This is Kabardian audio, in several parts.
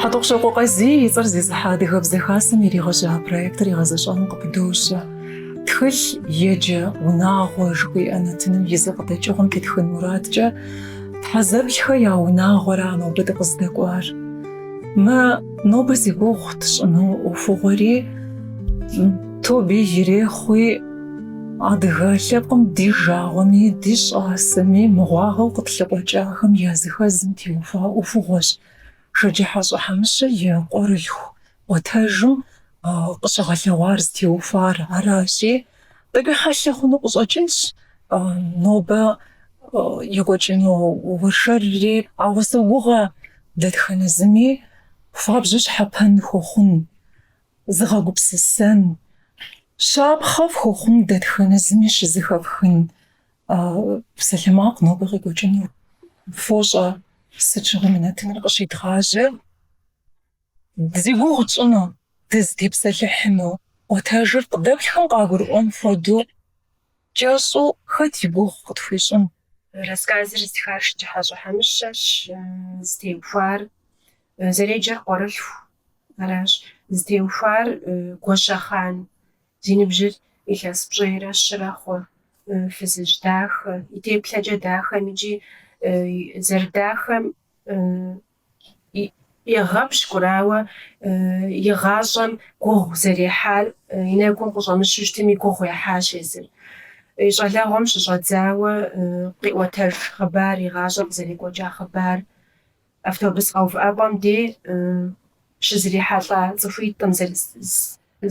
Хьэтӏохъущокъуэ Къазий и цӏэр зезыхьэ Адыгэбзэ Хасэм иригъэжьа проектыр гъэзэщӏэным къыпыдощэ. Тхылъ еджэ унагъуэ жыхуиӏэ нэтыным и зы къыдэкӏыгъуэм тетхын мурадкӏэ Тхьэзэплъхэ я унагъуэра нобэ дыкъыздэкӏуар. Мы нобэ зи гугъу тщӏыну ӏуэхугъуэри тобэ ирехъуи, адыгэ лъэпкъым ди жагъуэми, ди щӏасэми мыгъуагъэу къытлъыкъуэкӏахэм языхэзым теухуа ӏуэхугъуэщ Шэджыхьэщӏэ Хьэмыщэ и Къуэрылъху ӏуэтэжым къыщыгъэлъэгъуар зытеухуар аращи, тӏэкӏуи хьэлъэ хъуну къыщӏэкӏынщ нобэ екӏуэкӏыну уэршэрри, ауэ согугъэ, дэтхэнэ зыми хуабжьу щхьэпэн хуэхъун, зыгъэгупсысэн, щапхъэ фхуэхъун дэтхэнэ зыми щызыхэфхын Псалъэмакъ нобэ къекӏуэкӏыну. Фощӏэ, сыт щыгъуи мы нэтыныр къыщедгъажьэ, зи гугъу тщӏыну, дызытепсэлъыхьыну, ӏуэтэжыр къыдэплъхэм къагурыӏуэн хуэдэу кӏэщӏу хэт и гугъу къытхуищӏын? Рассказыр зытхар Шэджыхьэщӏэ Хьэмыщэщ, зытеухуар зэреджэр Къуэрылъху аращ, зытеухуар Гуащэхъан Зи ныбжьыр илъэс пщӏейрэ щырэ хъу фызыжь дахэ, и теплъэкӏэ дахэм икӏи зэрыдахэм егъэпщкӏур, ауэ и гъащӏэм гугъу зэрехьар и нэгум къыщӏэмыщу щытми гугъу ехьащ езыр. И щӏалэгъуэм щыщӏэдзауэ къиӏуэтэж хъыбар, и гъащӏэм къызэрекӏуэкӏа хъыбар Автобус къэувыӏэпӏэм де щызэрихьэлӏа цӏыхуитӏым,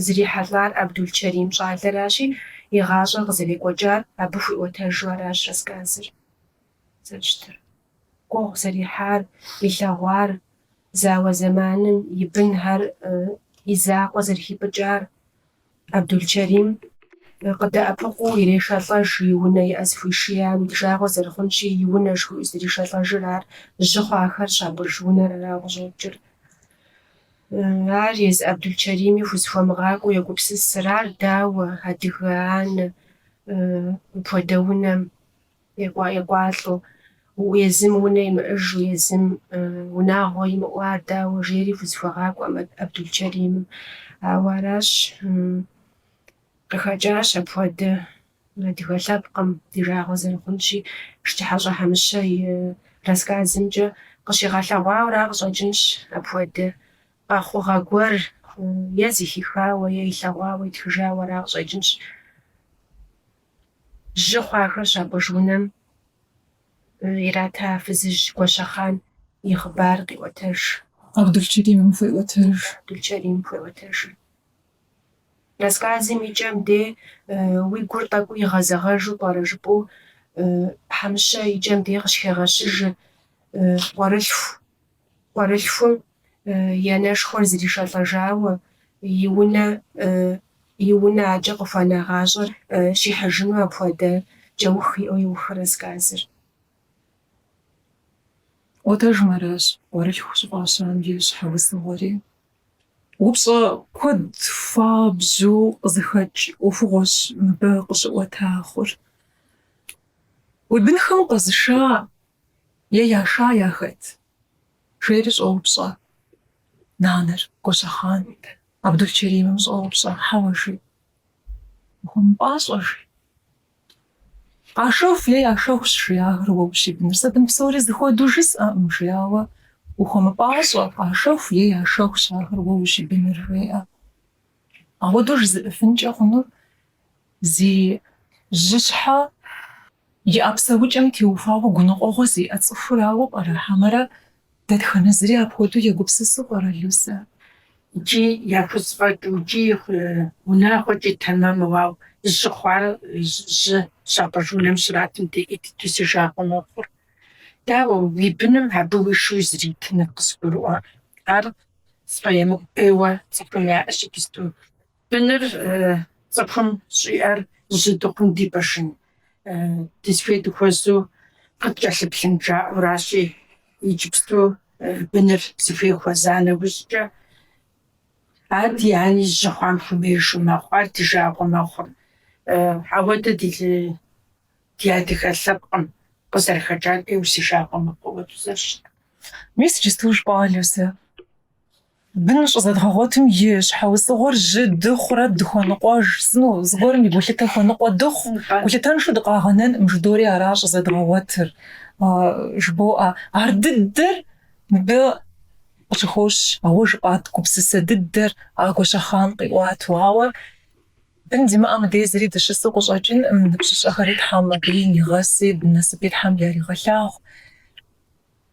зрихьэлӏар Абдулчэрим щӏалэращи, и гъащӏэр къызэрекӏуэкӏар абы хуиӏуэтэжу аращ рассказыр зэрыщытыр. Гугъу зэрехьар, илъэгъуар, зауэ зэманым и бынхэр и закъуэ зэрыхипӏыкӏар, Абдулчэрим къыдэӏэпыкъуу ирешэлӏэж, и унэ и ӏэ зыхуишиям, ди жагъуэ зэрыхъунщи, и унэ жыхуиӏэу зришэлӏэжыр ар, жьы хъуахэр щапӏыж унэр арауэ къыщӏокӏыр. Ар езы Абдулчэрими хузэхуэмыгъакӏуэу егупсысыр, ар дауэ, адыгэ анэ, мыпхуэдэ унэм екӏуалӏэу, езым унэ имыӏэжу, езым унагъуэ имыӏэу, ар дауэ жери хузэхуэгъакӏуэм Абдулчэримым. Ауэ аращ, къыхэкӏащ апхуэдэ адыгэ лъэпкъым ди жагъуэ зэрыхъунщи, Шэджыхьэщӏэ Хьэмыщэ и рассказымкӏэ къыщигъэлъэгъуауэра къыщӏэкӏынщ апхуэдэ къэхъугъэ гуэр е зыхихауэ, е илъэгъуауэ итхыжауэра къыщӏэкӏынщ. Жьы хъуахэр щапӏыж унэм ирата фызыжь Гуащэхъан и хъыбар къиӏуэтэж. Абдулчэримым хуеӏуэтэж. Абдулчэрим хуеӏуэтэжыр. Рассказым и кӏэм де уи гур тӏэкӏуу игъэзэгъэжу пӏэрэ жыпӏэу Хьэмыщэ и кӏэм де къыщхегъэщыжыр къуэрылъху Къуэрылъхум и анэшхуэр зришэлӏэжауэ, и унэ и унэ акӏэ къыхуэна гъащӏэр щихьыжыну апхуэдэ кӏэух иӏэу иухы рассказыр. Ӏуэтэжым аращ къуэрылъху щӏыфӏащам и щхьэусыгъуэри. Упщӏэ куэд хуабжьу къызыхэкӏ ӏуэхугъуэщ мыбы къыщыӏуэта хъур. Уи бынхэм къэзыша Е яша яхэт? жери щӏоупщӏэ нанэр. Гуащэхъан Абдулчэримым щӏоупщӏэ, Хьэуэ, жи. Ухуэмыпӏащӏэ, жи. Къашэху е яшэхущ, жи, ахэр уэ ущибыныр. Сэ бын псори зыхуэду жысӏэкъым, жи, ауэ ухуэмыпӏащӏэ, къашэху е яшэхущ, ахэр уэ ущибыныр, жеӏэ. Ахуэдэу жызыӏыфынкӏэ хъунур зи жьыщхьэ. Иӏэ псэукӏэм теухуауэ гуныкъуэгъуэ зиӏэ цӏыхурауэ пӏэрэ хьэмэрэ дэтхэнэ зыри апхуэдэу егупсысу пӏэрэ, Люсэ? Икӏи яхузэфӏэкӏыу, икӏи унагъуэкӏи тэмэму, ауэ жьы хъуар жьы щапӏыж унэм щратым де ӏей дыду си жагъуэ мэхъур. Дауэ, уи быным абы уишэу узритыныр къызгурыӏуэ, ар сфӏэемыкӏу ӏейуэ цӏыхум яӏэщ иджысту, Быныр цӏыхум щӏиӏэр жьы дыхъум дипӏыжын, дызыхуей дыхуэзу къыткӏэлъыплъын жаӏэуращи, иджыпсту быныр зыхуей хуэза нэужькӏэ, ади ани жьы хъуам хуэмеижу мэхъу, ар ди жагъуэ мэхъур. Ахуэдэ ди ди адыгэ лъэпкъым къызэрыхэкӏар ӏейуэ си жагъуэ мэхъу ахуэду зэрыщытыр. Мис иджыпсту жыпӏа уэ, Люсэ. Бын щӏызэдгъэгъуэтым и щхьэусыгъуэр жьы дыхъурэ дыхуэныкъуэж сыну, зыгуэрым и гулъытэ хуэныкъуэ дыхъу, гулъытэншэу дыкъагъэнэнкъым жыдори ара щӏызэдгъэгъуэтыр, жыбоӏэ. Ар дыдэр мыбы къыщыхощ, а уэ жыпӏа гупсысэ дыдэр а Гуащэхъан къиӏуату. Ауэ бын зимыӏэ мыдей зыри дыщысу къыщӏэкӏынкъым, ныбжьыщӏэхэри Тхьэм абы нигъэси, насыпи Тхьэм яригъэлъагъу.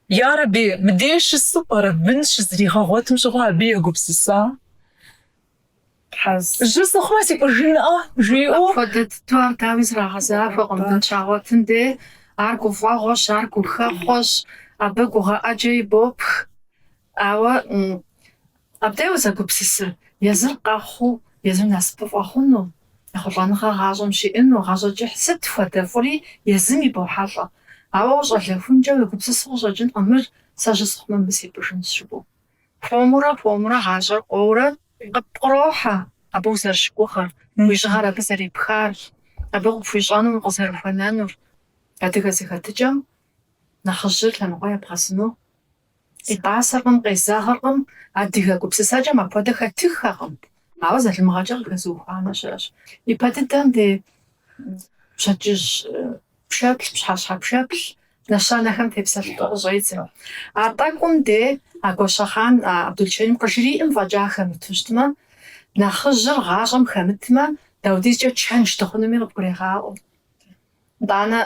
Ярэби, мыдеж щысу пӏэрэ бын щызригъэгъуэтым щыгъуэ абы егупсыса? Жьы сыхъумэ, сипӏыжынӏэ, жиӏэу. Апхуэдэ дыдэу ар дауи зрагъэзахуэкъым, бын щагъуэтым де ар гуфӏэгъуэщ, ар гухэхъуэщ, абы гугъэ ӏэджэ ибопх. Ауэ Абдей узэгупсысыр, езыр къэхъуу, езыр насыпыфӏэ хъуну, ехъулӏэныгъэ гъащӏэм щиӏэну, гъащӏэ кӏыхь сыт хуэдэ фӏыри езым ебохьэлӏэ. Ауэ ущӏалэхункӏэ уегупсысу къыщӏэкӏынкъым мыр, сэ жьы сыхъумэ мыбы сипӏыжынщ жыпӏэу. Хуэмурэ хуэмурэ гъащӏэр къоурэ къыпкърохьэ абы узэрыщыгугъыр, уи жьыгъэр абы зэрепхар, абы къыпхуищӏэнум укъызэрыхуэнэнур. Адыгэ зэхэтыкӏэм нэхъыжьыр лъэныкъуэ ебгъэзыну Итӏасэркъым, къезэгъыркъым, адыгэ гупсысэкӏэм апхуэдэ хэтыххэкъым, ауэ залымыгъэкӏэ къыхэзыухуанэ щыӏэщ. Ипэ дыдэм де пщэдджыжь пшэплъ, пщхьэщхьэ пшэплъ нэщэнэхэм тепсэлъыхьу къыщӏедзэ. А тӏэкӏум де а Гуащэхъан Абдулчэрим къыжриӏэм фӏэкӏа хэмыту щытмэ, нэхъыжьыр гъащӏэм хэмытмэ, даудизкӏэ чэнж дыхъунуми къыбгурегъаӏуэ. Итӏанэ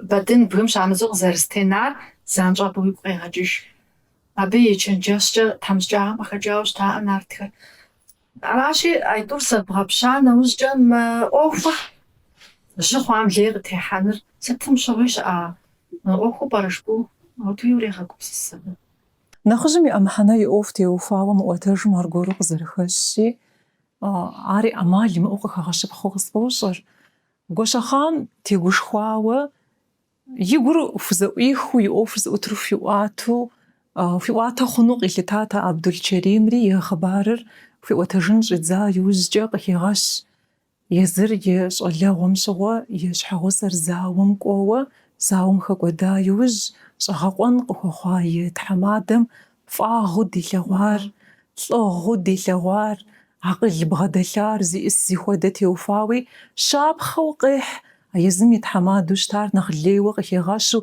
Бэдын бгым щамыдзу къызэрызэтенар занщӏэу уигу къегъэкӏыж. Абы и чэнджэщкӏэ тхьэмыщкӏагъэм къыхэкӏауэ щытаӏэ нартхэр. Аращи, а тӏур зэбгъэпща нэужькӏэ мы ӏуэхур жьы хъуам лей къытехьэныр сытым щыгъуи щыӏа ӏуэхуу пӏэрэ жыпӏэу, ауэдууи урегъэгупсыс абы. Нэхъыжьым иӏэ мыхьэнэ и ӏуэху теухуауэ мы ӏуэтэжым аргуэру къызэрыхэщщи, ари ӏэмал имыӏэу къыхэгъэщыпхъэу къысфӏощӏыр. Гуащэхъан тегушхуауэ и гур хузэӏуихыу и ӏуэхур зыӏутыр хуиӏуату, хуиӏуатэ хъуну къилъытат а Абдулчэримри и хъыбарыр хуиӏуэтэжын щӏидза иужькӏэ къыхегъэщ езыр и щӏалэгъуэм щыгъуэ и щхьэгъусэр зауэм кӏуэуэ, зауэм хэкӏуэда иужь щӏэгъэкъуэн къыхуэхъуа и тхьэмадэм фӏагъыу дилъэгъуар, лӏыгъыу дилъэгъуар, Акъыл бгъэдэлъар зиӏыс зихуэдэ теухуауи, щапхъэу къехь, а езым и тхьэмадэу щытар нэхъ лейуэ къыхегъэщу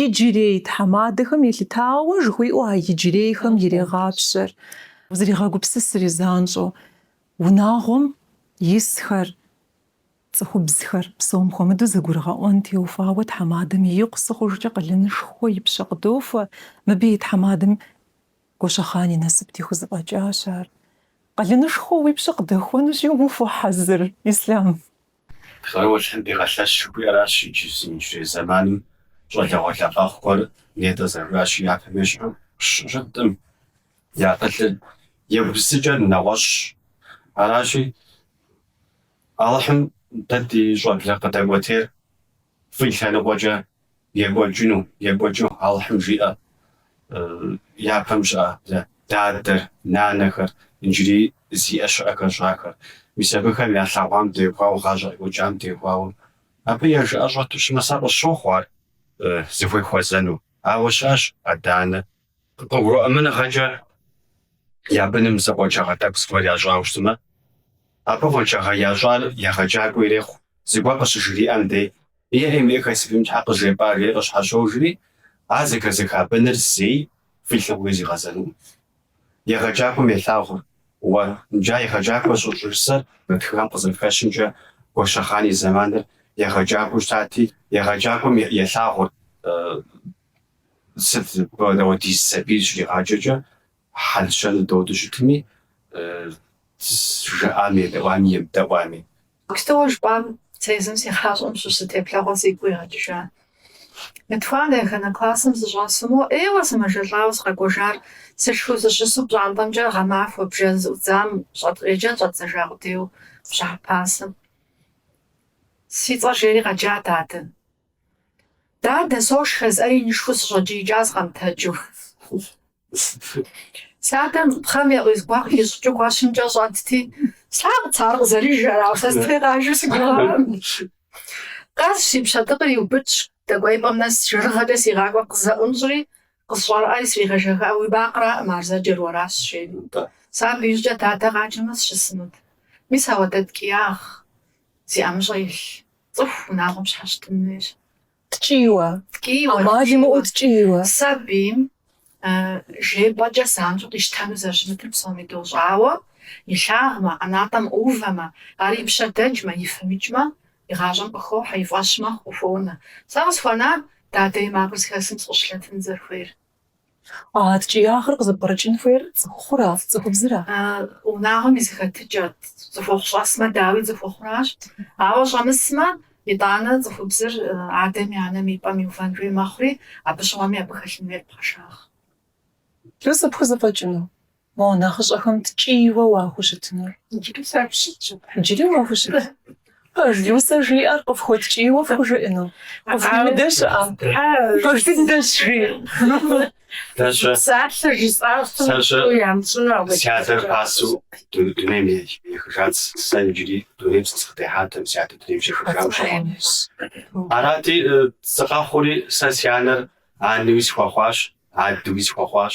иджырей тхьэмадэхэм елъытауэ жыхуиӏэу а иджырейхэм ирегъапщэр. Узригъэгупсысри занщӏэу, унагъуэм исхэр, цӏыхубзхэр псом хуэмыдэу зэгурыгъэӏуэн теухуауэ тхьэмадэм икъусыхъужкӏэ къалэнышхуэ и пщэ къыдохуэ, мыбы и тхьэмадэм Гуащэхъан и насыпти хузэфӏэкӏащ ар. Къалэнышхуэ уи пщэ къыдэхуэнущи, ухуэхьэзыр, Ислъам. Псэущхьэм дигъэлъэщ жыхуиӏэращ иджы, си иджырей зэманым щӏалэгъуалэ къэхъухэр нетӏэ зэрыжаӏащи, япэм ещхьу щыткъым, я акъылыр, я гупсысэкӏэр нэгъуэщӏщ. Аращи, Алыхьым дэ ди щӏэблэ къыдэкӏуэтейр Фӏы лъэныкъуэкӏэ екӏуэкӏыну, екӏуэкӏыу Алыхьым жиӏэ, япэм щыӏа дадэр, нанэхэр, иджыри зиӏэ щыӏэхэр щыӏахэр. Мис абыхэм ялъэгъуам дехуауэ, гъащӏэ къекӏуэкӏам дехуауэ, абы я жыӏэ щӏэту щытмэ, сэ къысщохъу ар зыхуей хуэзэну. Ауэ щыӏэщ адэ-анэ. Къыгурыӏуэмыныгъэкӏэ я быным зы къуаншагъэ тӏэкӏу зыгуэр ящӏауэ щытмэ, абы къуаншагъэ ящӏар егъэджакӏуэ ирехъу, зыгуэр къыщыжриӏэм дей, Иэхьи мыӏэ хэсыфым щхьэ къыжепӏар жери къыщхьэщожри, ар зэхэзыха быныр зэи фи лъыгъуи зигъэзэнукъым. Егъэджакӏуэм елъагъур, Уэ, иджы егъэджакӏуэ щӏыжысӏэр мы тхыгъэм къызэрыхэщымкӏэ, Гуащэхъан и зэманыр егъэджакӏуэу щытати, егъэджакӏуэм елъагъур, Сыт хуэдиз сабийр щригъаджэкӏэ хьэл-щэныр додыу щытми, жыӏами, едэӏуами, емыдэӏуами. Кстати, уэ жыпӏам сэ езым си гъащӏэм щыщ зы теплъэгъуэ сигу къигъэкӏыжа. Мы етхуанэ еханэ классым сыщӏэсыму, ӏейуэ сымэжэлӏауэ сыкъэкӏуэжар, сышхыу сыщысу пщӏантӏэмкӏэ гъэмахуэ бжэ зыӏудзам щӏэт, еджэн щӏэддзэжа къудейуэ бжьыхьэ пасэм си цӏэр жери къэджа дадэ. Дадэ, сошхэ, жысӏэри инышхуэу сыщӏэкӏиикӏащ сыкъэмытэджу. Си адэм пхъэм егъуиз гуахъуэ ищӏыкӏыу гуэщымкӏэ щӏэтти, слъагъут ар къызэрыжэр, ауэ сэ си дей къажэу си гугъакъым. Къэс, си пщэдыкъыр иубыдщ, дэкӏуеипӏэм нэс жэрыгъэкӏэ сигъакӏуэри къызэӏунщӏри, къысщӏэрыӏэри сригъэжэха, уи макъраӏым ар зэджэр уэращ, жери. Сэ абы иужькӏэ дадэ къаджэмэ сыщысынут. Мис ауэдэ ткӏиягъ зи ӏэмыщӏэ илъ. Цӏыху унагъуэм щхьэщытын хуейщ. Ткӏийуэ. Ткӏийуэ. Амал имыӏэу ткӏийуэ. Сабийм жепӏэкӏэ занщӏэу къищтэну зэрыщымытыр псоми дощӏэ, ауэ, илъагъумэ, ӏэнатӏэм ӏувэмэ, ар и пщэ дэкӏмэ, и фэм икӏмэ, и гъащӏэм къыхохьэ, и фӏэщ мэхъу, къыхуонэ. Сэ къысхуэнар, дадэ и макъыр зыхэсхым сыкъыщылъэтын зэрыхуейр. А ткӏиягъыр къызыпкърыкӏын хуейр цӏыхухъура, цӏыхубзыра? А унагъуэм и зыхэтыкӏэрт. Цӏыхухъу щӏэсмэ, дауи, цӏыхухъуращ. Ауэ щӏэмысмэ, итӏанэ цӏыхубзыр адэми анэми и пӏэм иувэн хуей мэхъури, абы щыгъуэми абы хэлъын хуейр пхъэшагъ. Люсэ, пхузэфӏэкӏыну? Мо нэхъыщӏэхэм ткӏийуэ уахущытынур? Иджыри сахущытщ. Иджыри уахущыт. Пэж Люсэ жиӏэр къыфхуэткӏийуэ фхужыӏыну? Къыфхуимыдэ щыӏэ? Къытхуимыдэ щыӏэщ, даже. Псалъэ жысӏащ, тӏэу ямыщӏыну апхуэдэ. Си адэр пасэу дунейм ехыжат, сэ иджыри дунейм сыкъытехьатэӏым, си адэ дунейм щехыжам щыгъуэ. Арати, сыкъэхъури, сэ си анэр анэуи схуэхъуащ, адэуи схуэхъуащ,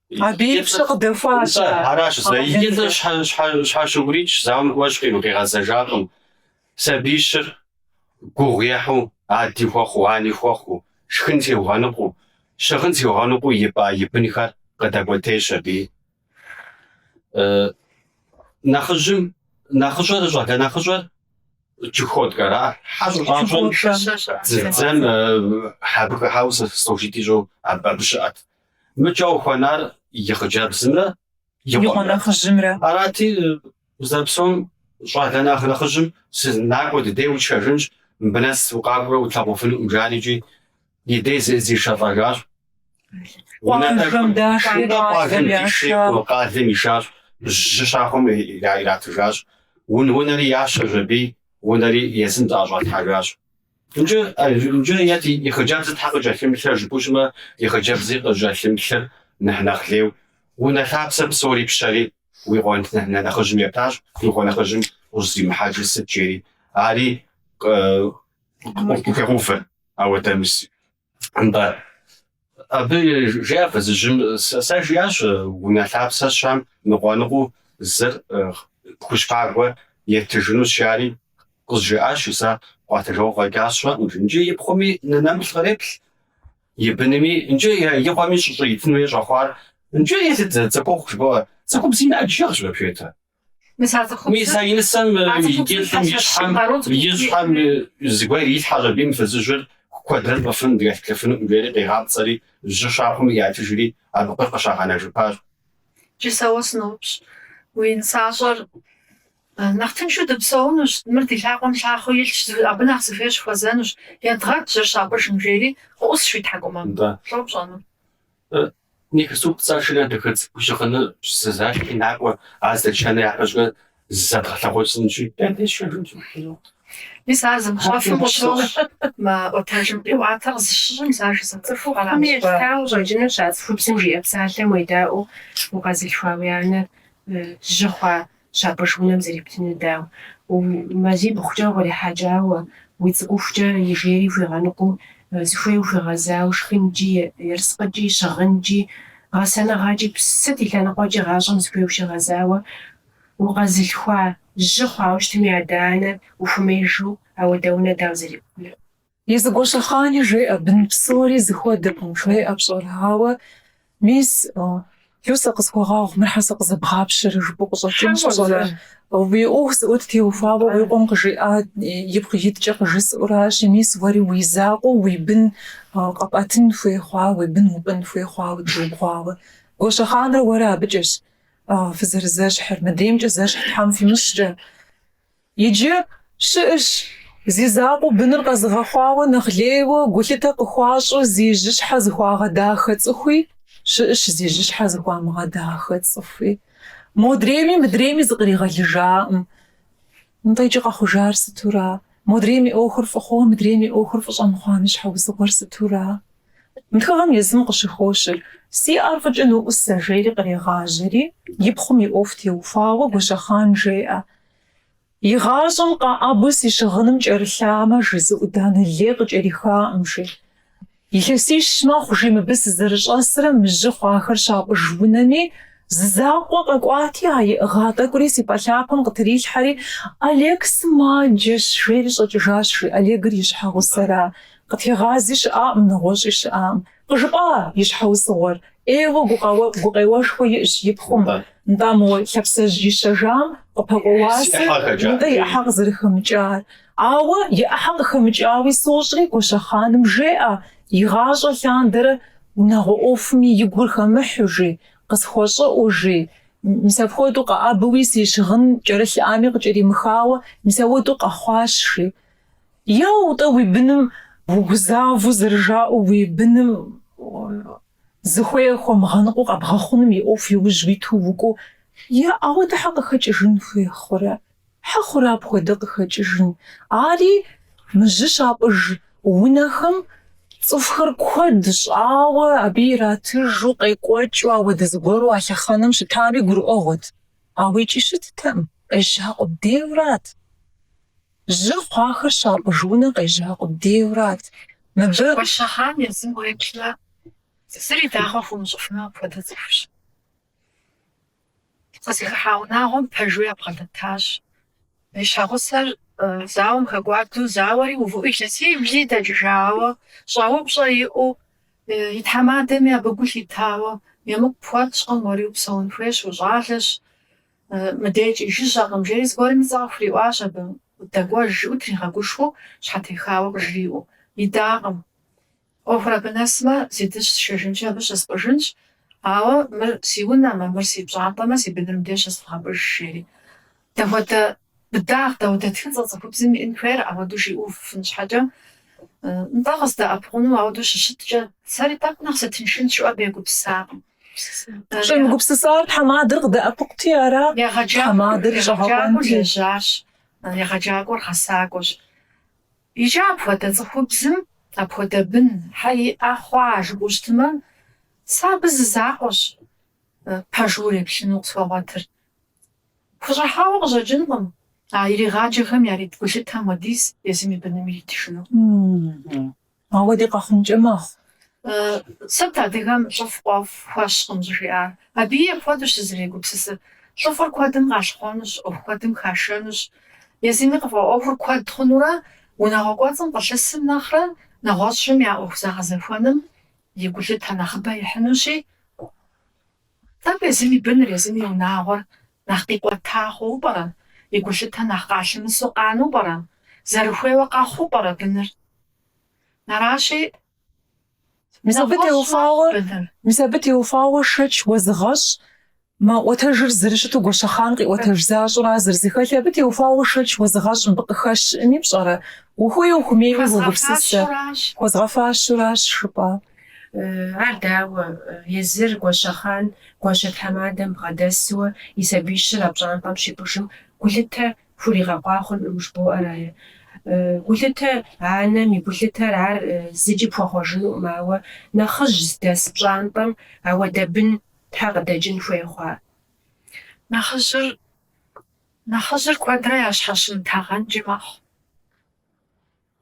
Абы и пщэ къыдэхуащ. Нтӏэ, аращ, зэ и лӏыр щхьэ щыӏурикӏ, зауэм кӏуэщ аби къигъэзэжакъым. Сабиищыр гугъу ехьу, ади хуэхъуу, ани хуэхъуу, шхын сиугъэныкъуу, щыгъын сиугъэныкъуу ипӏа и бынхэр къыдэкӏуэтейщ аби. Нэхъыжьым нэхъыщӏэр, щӏалэ нэхъыщӏэр Чукоткэра, хьэщӏу щӏащӏэм, дзэм абы хыхьауэ служить ищӏэу абы щыӏэт. Мыкӏэ къыхуэнар и хъыджэбзымрэ и и къуэ нэхъыжьымрэ. Арати, зэрыпсэум щӏалэ нэхъ нэхъыжьым си накӏуэ ди дей утшэжынщ, мыбы нэс укъакӏуэурэ утлъэгъуфынукъым, жари икӏи и дей зы- зишэлӏэжащ. Къуажэм даши, Къуажэм къуалэм диши, яша. къу- къалэм ишащ, жьы щахъумэм ира- иратыжащ. Ун- Унэри ящэщ аби, унэри езым зыӏэщӏалъхьэжащ. Иджы е и хъыджэбзыр щхьэ къыкӏэлъымыплърэ жыпӏэу щытмэ, и хъыджэбзыр къыщӏыкӏэлъымыплъыр нэхъ нэхъ лейу, унэ лъапсэ псори пщэри, уи къуэ нэ нэхъыжьым ептащ, уи къуэ нэхъыжьым ущӏызэримыхьэжыр сыт жери, ари къыхуегъэувэ ауэдэ мис. Нтӏэ, абы жеӏэ фызыжьым, сэ жиӏащ унэ лъапсэ сщам ныкъуэ-ныкъуэу зыр пхущхъагуэ еттыжынущ жари, къызжиӏащ, сэ къуатыжауэ къэкӏащ щыӏэкъым жи. Иджы и пхъуми нэ нэмыплъ къреплъ, и бынми, иджы и къуэми щӏыщӏитын хуей щӏэхъуар, иджы еплъыт, цӏыхухъу жыбоӏэ, цӏыхубзым и лажьэщ вообще-то. Мис а и нысэм и кӏыфӏым и щхьэм, и щхьэм зыгуэр ирилъхьэщ аби мы фызыжьыр куэдрэ щӏэфын дыкӏэлъыплъыфынукъым, жери къигъапцӏэри, жьы щахъумэм ятыжри, абы къы- къыщагъэнэжыпащ. Джы сэ уэ сыноупщӏ, уи нысащӏэр нэхъ тыншу дыпсэунущ, мыр ди лъакъуэм лъахъуэу илъщ, абы нэхъ зыхуей щыхуэзэнущ, едгъэт, жьыр щапӏыжым, жери къыӏусщ уи тхьэкӏумэм. Лӏо пщӏэну? Нихысу пцӏэ шынэ дэхэцӏ гущыхъыны зэзащи накӏуэ, ар здэтшэнур япэщӏыкӏэ зэдгъэлъагъу сынщи. Мис ар зымыщӏэфым къыщощӏ мы ӏуэтэжым къиӏуатэ къызыщыщӏым, сэ ар жызыӏэ цӏыхуу къэралыгъуа. Абыхэм елъытауэ щӏэкӏынущ а цӏыхубзым жиӏэ псалъэм уедаӏуэу укъэзылъхуа уи анэр жьы хъуа Щапӏыж унэм зэрептынур дауэ, мазибгъукӏэ укърихьэкӏауэ, уи цӏыкӏухукӏэ и жейри хуигъэныкъуэу, зыхуей ухуигъэзауэ шхынкӏи, ерыскъыкӏи, щыгъынкӏи, гъэсэныгъэкӏи, псыт и лъэныкъуэкӏи гъащӏэм зыхуей ущигъэзауэ, укъэзылъхуа жьы хъуауэ щытми, адэ-анэр ухуэмеижу ауэдэ унэ дауэ зэрептынур? И зэ Гуащэхъани жеӏэ, бын псори зыхуэдэкъым, жеӏэ пщӏэрэ? Ауэ, мис, Люсэ къысхуэгъэгъу, мыр щхьэ сэ къызэбгъапщэрэ жыпӏэу къыщӏэкӏынщ пщӏэрэ? Уи ӏуэху зыӏут теухуауэ уи къуэм къыжиӏа ипкъ иткӏэ къыжысӏэу аращи, мис уэри уи закъуэу уи бын къэпӏэтын хуей хъуа, уи бын упӏын хуей хъуа къыдгурыбгъэӏуауэ? Гуащэхъанрэ уэрэ абыкӏэщ фызэрызэщхьыр, мыдреймкӏэ зэщхь Тхьэм фимыщӏкӏэ. Иджы щыӏэщ зи закъуэу быныр къэзыгъэхьуауэ нэхъ лейуэ гулъытэ къыхуащӏу зи жьыщхьэ зыхуагъэдахэ цӏыхуи, щыӏэщ зи жьыщхьэ зыхуамыгъэдахэ цӏыхуи. Модрейми мыдрейми зыкъригъэлыжаӏым. Нтӏэ, иджы къэхъужар сытура? Модрейм и ӏуэхур фӏы хъууэ, мыдрейм и ӏуэхур фӏы щӏэмыхъуам и щхьэусыгъуэр сытура? Мы тхыгъэм езым къыщыхощыр, Си ӏэр фӏыкӏэ ноӏусэ, жери кърегъажьэри, и пхъум и ӏуэху теухуауэ Гуащэхъан жеӏэ. Игъащӏэм къэӏэбу си щыгъыным кӏэрылъамэ, жи, зы ӏуданэ лей къыкӏэрихаӏым, жи. Илъэсищ мэхъу, жи, мыбы сызэрыщӏэсрэ мы жьы хъуахэр щапӏыж унэми, зы закъуэ къэкӏуати, а иӏыгъа тӏэкӏури си пӏэлъапэм къытрилъхьэри, Олег сымаджэщ, жери щӏэкӏыжащ, жи, Олегыр и щхьэгъусэра, къытегъази щыӏаӏым, нэгъуэщӏи щыӏаӏым. Къыжыпӏа и щхьэусыгъуэр? ӏейуэ гукъеуэшхуэ иӏщ и пхъум, нтӏэ, мо лъапсэжь ищэжам къыпэкӏуа уасэ нтӏэ и ӏыхьэ къызэрыхэмыкӏар. Ауэ и ӏыхьэ къыхэмыкӏауи сощӏри, Гуащэхъаным жеӏэ, игъащӏэ лъандэрэ унагъуэ ӏуэхуми и гур хэмыхьу, жи, къысхуэщӏыӏу, жи. Мис апхуэдэу къэӏэбэуи си щыгъын кӏэрылъыӏами къыкӏэримыхауэ, мис ауэдэу къэхъуащ, жи. Яу, тӏэ уи быным угузавэу зэрыжаӏэу уи быным зыхуей хуэмыгъэныкъуэу къэбгъэхъуным и ӏуэху иужь уиту укӏуэу, е ауэдэ хьэ къыхэкӏыжын хуей хъурэ? Хьэ хъурэ апхуэдэ къыхэкӏыжын? Ари мы жьы щапӏыж унэхэм цӏыхухэр куэд щӏауэ, абы иратыжу, къекӏуэкӏыу ауэдэ зыгуэру а лъэхъэнэм щытами гурыӏуэгъуэт. Ауэ икӏи щыттэӏым, къежьа къудейурат. Жьы хъуахэр щапӏыж унэ къежьа къудейурат. Мыбы. Гуащэхъан езым уеплъмэ, зыри дагъуэ хуумыщӏыфын апхуэдэ цӏыхущ. Къызыхыхьа унагъуэм пэжу ябгъэдэтащ. И щхьэгъусэр зауэм хэкӏуадэу, зауэри увыӏэу илъэсибли дэкӏыжауэ, щӏэупщӏэ иӏэу, и тхьэмадэми абы гу лъитауэ, емыкӏу пхуэтщӏкъым, уэри упсэун хуейщ, ущӏалэщ. Мыдейкӏэ жыжьэкъым, жери зыгуэрм и цӏэ къыхуриӏуащ. Абы дэкӏуэж, жиӏэу тригъэгушхуэу, щхьэтехауэ къыжриӏэу. Идакъым. ӏуэхур абы нэсмэ, си дыщ сшэжынкӏэ абы щыспӏыжынщ, ауэ мыр си унэмэ, мыр си пщӏантӏэмэ, си быныр мыдей щысывгъэпӏыж, жери. Дапхуэдэ быдагъ, дауэдэ тхыцӏэ цӏыхубзым иӏын хуейр ауэду жиӏэфын щхьэкӏэ. Нтӏэ, къыздэӏэпыкъуну ауэду щыщыткӏэ, сэри тӏэкӏу нэхъ сытыншынт жиӏэу абы егупсысакъым. Щӏемыгупсысар тхьэмадэр къыдэӏэпыкъути ара? Тхьэмадэр щӏэгъэкъуэнти. Егъэджакӏуэр лэжьащ, егъэджакӏуэр гъэсакӏуэщ. Иджы апхуэдэ цӏыхубзым апхуэдэ бын хьэ иӏэ хъуа жыпӏэу щытмэ, сэ абы зы закъуэщ пэжу уреплъыну къысхуэгъуэтыр. Хущӏыхьауэ къыщӏэкӏынкъым а иригъаджэхэм ярит гулъытэм хуэдиз езым и быным иритыжыну. Ауэди къэхъункӏэ мэхъу. Сыт адыгэм лӏыфӏ къуэфӏ хуэщкъым щӏыжиӏар? Абыи апхуэдэущ сызэрегупсысыр. Лӏыфӏыр куэдым къащхъуэнущ, ӏуэху куэдым хашэнущ. Езыми къыфӏэӏуэхур куэд хъунурэ, унагъуэ кӏуэцӏым къылъысым нэхърэ, нэгъуэщӏхэм я ӏуэху зэгъэзэхуэным и гулъытэ нэхъыбэ ихьынущи, Тӏэкӏу езым и быныр, езым и унагъуэр нэхъ къикӏуэта хъууэ пӏэрэ? И гулъытэ нэхъ къалъымысу къану пӏэрэ? Зэрыхуейуэ къэхъуу пӏэрэ быныр? Аращи. Мис абы теухуауэ шэч уэзыгъэщӏ, мы ӏуэтэжыр зэрыщыту Гуащэхъан къиӏуэтэж защӏра зэрызыхэлъи, абы теухуауэ шэч уэзыгъэщӏ мыбы къыхэщ щыӏэми пщӏэрэ? Ухуей-ухумейуи уогупсысэ. Хуэзгъэфащэуращ, жыпӏа? Ар дауэ, езыр Гуащэхъан гуащэ тхьэмадэм бгъэдэсуэ и сабий щыр а пщӏантӏэм щипӏыжым гулъытэ хуригъэкъуа хъункъым жбоӏэрае? Гулъытэ анэм и гулъытэр ар зыкӏи пхуэхъуэжынукъым, ауэ нэхъыжь здэс пщӏантӏэм ауэдэ бын щхьэ къыдэкӏын хуей хъуа? Нэхъыжьыр, нэхъыжьыр куэдрэ ящхьэщымытэгъэнкӏи мэхъу.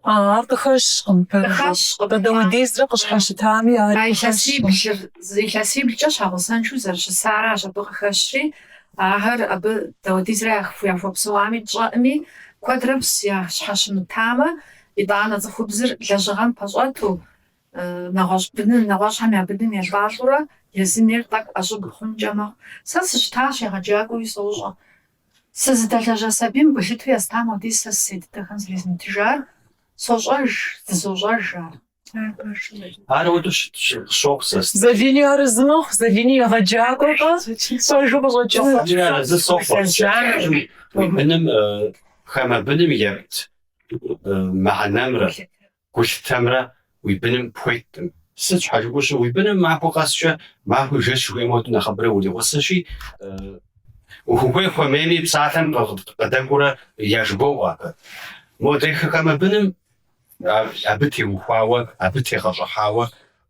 А, ар къыхэщкъым. Къыхэщкъым. Къы- даудизрэ къыщхьэщытами, ари илъэсиблыр, илъэсиблкӏэ щхьэгъусэншэу зэрыщысаращ абы къыхэщри, ахэр абы даудизрэ яхуэпсэуами тщӏэӏыми, куэдрэ пс ящхьэщымытамэ, итӏанэ цӏыхубзыр лэжьыгъэм пэщӏэту, нэгъуэщӏ быным, нэгъуэщӏхэм я быным елӏалӏэурэ, езым-ейр тӏэкӏу ӏэщӏыб хъункӏэ мэхъу. Сэ сыщытащ егъэджакӏуэуи сощӏэ. Сэ зыдэлэжьа сабийм гулъыту естам хуэдиз сэ сысей дыдэхэм зэрезмытыжар, сощӏэж, зызощӏэж ар. Ар ауэду щыту къысщохъу сэ. Залини арэзымыхъу, Залини егъэджакӏуэкъэ, пэжу къыщӏэкӏынут. Залини арэзы сохъу. Уи быным хамэ быным епт мыхьэнэмрэ Гулъытэмрэ уи быным пхуетыӏым. Сыт щхьэжыгуэщи, уи быным махуэ къэскӏэ, махуи жэщ жыхуей модэ нэхъыбэрэ уригъусэщи, уху- хуей-хуэмейми псалъэм къыдэкӏуурэ яжыбоӏэ ахэр. Модэ хамэ быным абы теухуауэ, абы тегъэщӏыхьауэ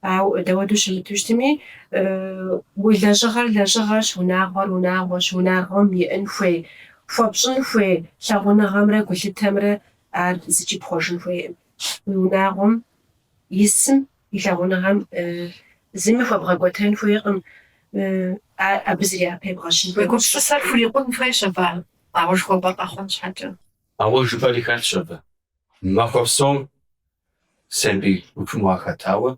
Ауэ дауэду щымыту щытми, уи лэжьыгъэр лэжьыгъэрщ, унагъуэр унагъуэщ, унагъуэм иӏын хуей, хуэпщӏын хуей лъагъуныгъэмрэ гулъытэмрэ ар зыкӏи пхъуэжын хуейкъым. Уи унагъуэм исым и лъагъуныгъэм зыми хуэбгъэкӏуэтэн хуейкъым, абы зыри япэ ебгъэщын хуейкъым. Уи гупсысэр хурикъун хуейщ абы ар къауэшхуэу къэхъун щхьэкӏэ. Ауэ жыпӏэри хэлъщ абы. Махуэ псом Сабий гупым уахэтауэ,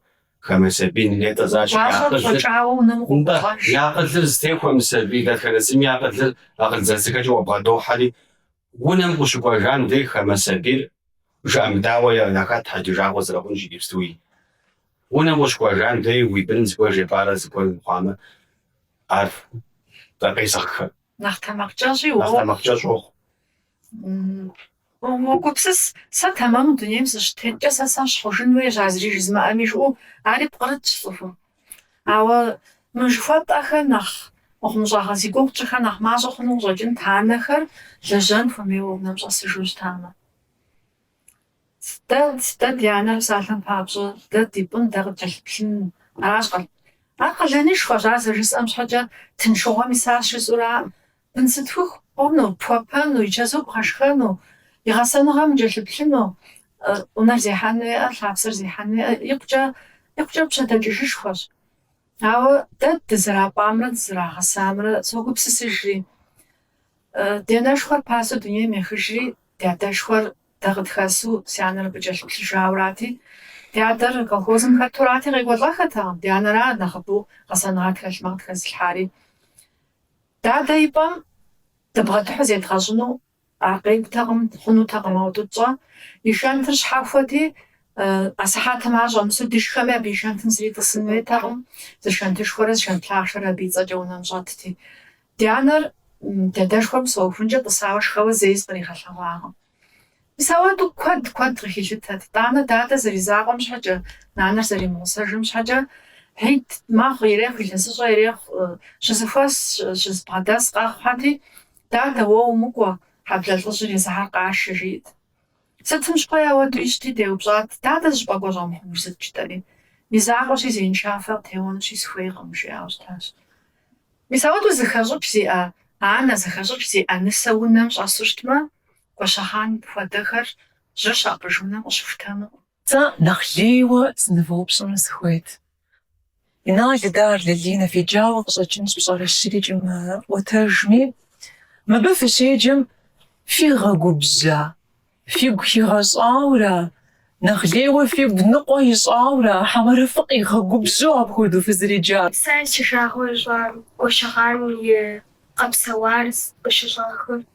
хамэ сабийм нетӏэ защӏ и акъылыр зытехуэ мы сабий дэтхэнэ зыми акъылыр акъыл зэзыхэкӏэ уабгъэдохьэри, унэм къыщыкӏуэжам деж хамэ сабийр жыӏэмыдаӏуэ яхэт хьэджэжагъуэ зэрыхъун иджыпсту уи унэм къыщыкӏуэжам деж уи быным зыгуэр жепӏарэ зыгуэр мыхъуамэ, ар къезыгъхэ, Нэхъ тэмакъкӏэщӏи нэхъ тэмакъкӏэщӏ уохъу. М, Мэгупсыс, сэ тэмэму дунейм сыщытеткӏэ, сэ сэщхь хъужын хуейщ, а зыри жызмыӏэми жыӏэу, ари пкърытщ цӏыхум. Ауэ мы жыхуэтӏэхэр нэхъ мыхъумыщӏагъэ зи гугъу тщӏыхэр нэхъ мащӏэ хъуну къыщӏэкӏынт анэхэр лэжьэн хуэмейуэ унэм щӏэсыжу щытамэ. Дэ, дэ ди анэр псалъэм папщӏэ, дэ ди пӏын дэ къыдкӏэлъыплъын, аращ къэ. Ар къалэнышхуэщ, ар зэрыжысӏэм щхьэкӏэ тыншыгъуэм иса жысӏэу аракъым. Бын зытхух хъуну, пхуэпэну, и чэзум бгъэшхэну, и гъэсэныгъэм укӏэлъыплъыну, унэр зехьэн уиӏэ, лъапсэр зехьэн уиӏэ, икъукӏэ, икъукӏэ пщэдэкӏыжышхуэщ. Ауэ дэ дызэрапӏамрэ дызэрагъэсамрэ согупсысыжри. Ди анэшхуэр пасэу дунейм ехыжри, ди адэшхуэр дэ къытхэсу си анэр абы кӏэлъыплъыжаурати, ди адэр колхозым хэтурати, къекӏуэлӏэххэтэкъым, ди анэра нэхъыбэу гъэсэныгъэ тхэлъмэ къытхэзылъхьари. Дадэ и пӏэм дыбгъэдыхьу зедгъэщӏыну ар къекӏутэкъым, хъунутэкъым ауэду тщӏэ. И шэнтыр щхьэхуэти, а сыхьэтым ар щӏэмысу дышхэми, абы и шэнтым зыри тӏысын хуейтэкъым. Зы шэнтышхуэрэ зы шэнт лъахъшэрэ абы и цӏэкӏэ унэм щӏэтти. Ди анэр дадэшхуэм псэухункӏэ тӏысауэ шхэуэ зэи зыкъригъэлъэгъуакъым. Мис ауэду куэд куэд къыхилъытэт, итӏанэ дадэ зэризакъуэм щхьэкӏэ, нанэр зэримыгъусэжым щхьэкӏэ, Хьид махуэ ирехъу, илъэсыщӏэ ирехъу, щызэхуэс, щызэбгъэдэс къэхъухьэти, Дадэ, уэ умыкӏуэ, хьэблэ лӏыжьыр исыхэр къашэ, жиӏт. Сытым щыгъуи ауэду ищӏти, деупщӏат, Дадэ зыщӏыпӏэ кӏуэ щӏэмыхъунур сыт жытӏэри? Ми закъуэщи, зеиншафэ къытеуэнущи, сыхуейкъым, жиӏауэ щытащ. Мис ауэду зыхэщӏыкӏ зиӏэ анэ, зыхэщӏыкӏ зиӏэ нысэ унэм щӏэсу щытмэ, Гуащэхъан хуэдэхэр жьыр щапӏыж унэ къыщыхутэнукъым. Сэ нэхъ лейуэ сынывэупщӏыну сыхуейт, Инал, Идар, Лалинэ феджауэ къыщӏэкӏынщ пщӏэрэ щырикӏ мы ӏуэтэжми, мыбы фыщеджэм фигъэгубжьа, фигу хигъэщӏауэра, нэхъ лейуэ фигу ныкъуэ ищӏауэра, хьэмэрэ фыкъигъэгубжьу апхуэдэу фызэреджар? Сэ си жагъуэ ищӏа Гуащэхъан и къэпсэуар къыщыщӏахэр?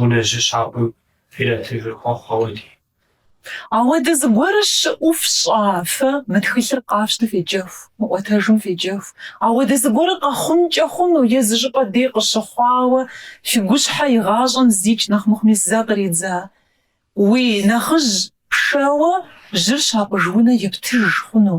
унэ жьы щапӏым фиратыжыр хуэхъу ауэди. Ауэдэ зыгуэрыр щыӏэу фщӏа фэ мы тхылъыр къафщту феджэху, мы ӏуэтэжым феджэху. Ауэдэ зыгуэрыр къэхъункӏэ хъуну е зы щӏыпӏэ дей къыщыхъуауэ фи гущхьэ игъащӏэм зикӏ нэхъ мыхъуми зэ къридза? Уи нэхъыжь пшэуэ жьыр щапӏыж унэ ептыж хъуну?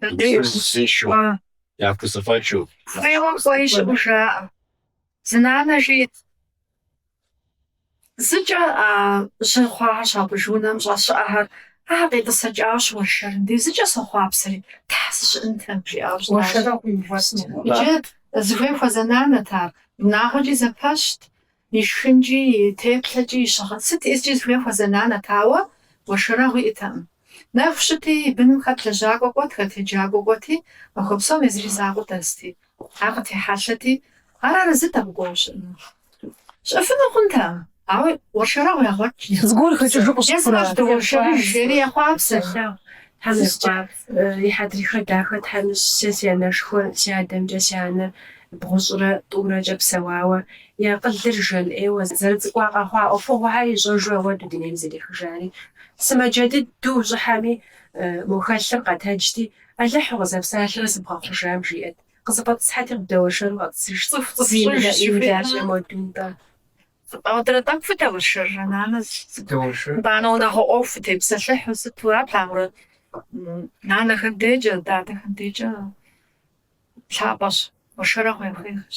Сабийр зыщӏищу, яхузэфӏэкӏыу. Хуейуэ кӏуэи щыӏэу жаӏэ. Зы нанэ жиӏэт, зыкӏэ а жьы хъуахэр щапӏыж унэм щӏэс щыӏэхэр, ахэр къетӏысэкӏауэ щыуэршэрым дей, зыкӏэ сохъуапсэри, Тхьэ, сыщыӏэнтэм! жиӏауэ щытащ. Уэршэрэ къыувэсмэ. Иджы зыхуей хуэзэ нанэт ар, унагъуэкӏи зэпэщт. И шхынкӏи, и теплъэкӏи, и щыгъын сыт искӏи зыхуей хуэзэ нанэт, ауэ уэршэрэгъу иӏэтэкъым. Нэху щыти, и быным хэт лэжьакӏуэ кӏуэт, хэт еджакӏуэ кӏуэти, махуэ псом езыр и закъуэ дэсти, ар къытехьэлъэти, ар арэзыт абы кӏуэуэ щыӏэну. Щыӏэфыну хъунтэкъым, ауэ уэршэрэгъу ягъуэтщ. Зыгуэр хэкӏыжу къыщыхъурат. Езыр ащ дыуэршэрыж, жери ехъуапсэ. Тхьэмыщкӏэ, и хьэдрыхэ дахэ Тхьэм ищӏ, сэ си анэшхуэр, си адэмкӏэ си анэр бгъущӏрэ тӏурэкӏэ псэуауэ, и акъылыр жан ӏейуэ зэрыцӏыкӏурэ къэхъуа ӏуэхугъуэхэр ищӏэжу ауэду дунейм зэрехыжари. Сымаджэ дыдэу ущӏыхьэми, мо хэлъыр къэтэджти, Алыхь укъызэпсалъэрэ сыбгъэхъужам жиӏэт. Къызэфӏэтӏысхьэти, къыбдэуэршэру къэтӏысыж, зимылӏэ ӏейм дащӏэ мо дунтӏэ. Ауэдурэ тӏэкӏу фыдэуэршэррэ, нанэ? Сыдэуэршэ. Итӏанэ унагъуэ ӏуэху фытепсэлъыхьу сыту, ар плъагъурэ, нанэхэм декӏэ, дадэхэм декӏэ лъапӏэщ, уэршэрэгъу хуейхэщ.